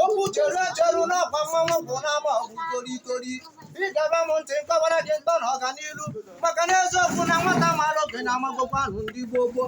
okwu cheru echeru n'ọkwa mmanwụ bụ n'ama ọgwụ korikori ị geba m ntị m kọwara gị ntọ na ọganiru maka na eziokwu na nwata mara oge na-amagbokwa ahụ ndị gboo gboo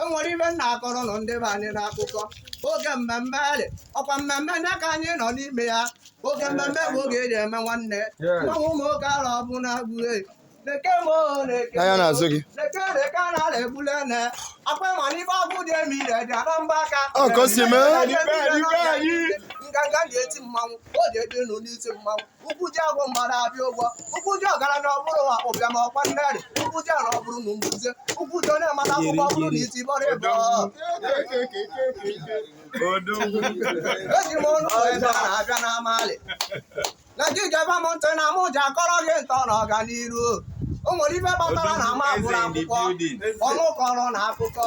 enwere ife m na-akọrọ unu ndị be anyị n'akụkọ oge mmemme dị ọkwa mmemme nke a anyị nọ n'ime ya oge mmemme bụ oge eji eme nwanne mmanwụ ụmụ oke ala ọbụ na agbụrụ leke m oo leke N'anya n'azụ gị. leke leke a na-ala egbule ne akwa ịma n'ife ọgwụ dị emi ire dị ala mba aka Ọ ka o si mee. nganga ji eti mmanwụ o ji eji nụ n'isi mmanwụ ụkwụ ji agụ mgbada abịa ụgwọ ụkwụ ji ọgaranya ọbụrụ nwa ụbịam ọkwa nnerị ụkwụ ji ala ọbụrụ na mbuze ụkwụ ji onye mara akwụkwọ ọbụrụ na iti bọrịbọ eji m ọnụ wee bịa na abịa na amalị na gị geba m ntị na mụ ji akọrọ gị ntọ na ọganiru o nwere ife kpatara na m agụrọ akwụkwọ ọnụ kọrọ na akụkọ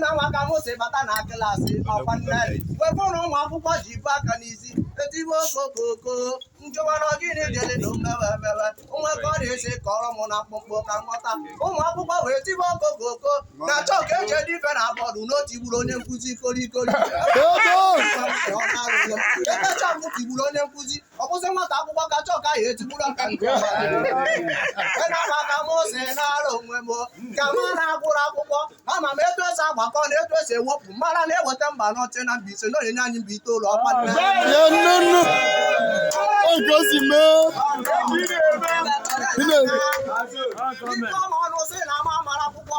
na nwa ka mụ si bata na klaasị ọkwa nne wepụrụ ụmụ akwụkwọ ji bu aka n'isi etibe okokoko m jụwara gịnị dịrị na omewe emewe nwa ka ọ na-esi kọrọ m na mkpụmkpụ ka m ghọta ụmụ akwụkwọ wee tibe okokoko na chọọkụ eji ede ife na bọọdụ na o tigburu onye nkụzi kolikoli Dodo! emecha m tigburu onye nkụzi ọ bụzi nwata akwụkwọ ka chọọkụ ya etigburu aka nke na-agbaka m ọsọ naara onwe m kama na m agụrọ akwụkwọ ama m etu esi agbakọ na etu esi ewepụ mara na e weta mba anọ chị na mba ise na ọ na-enye anyị mba itoolu ọkwa nne. ya nne nne oge o si mee Ndị ọma ọnụ sị na m amarọ akwụkwọ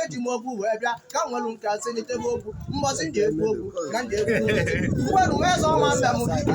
eji m okwu wee bịa ka m nwere nke asị n'itebe okwu mbọsị m ga-ekwu okwu ka m ga-ekwu mgberu wee zọ ọma mbe m dike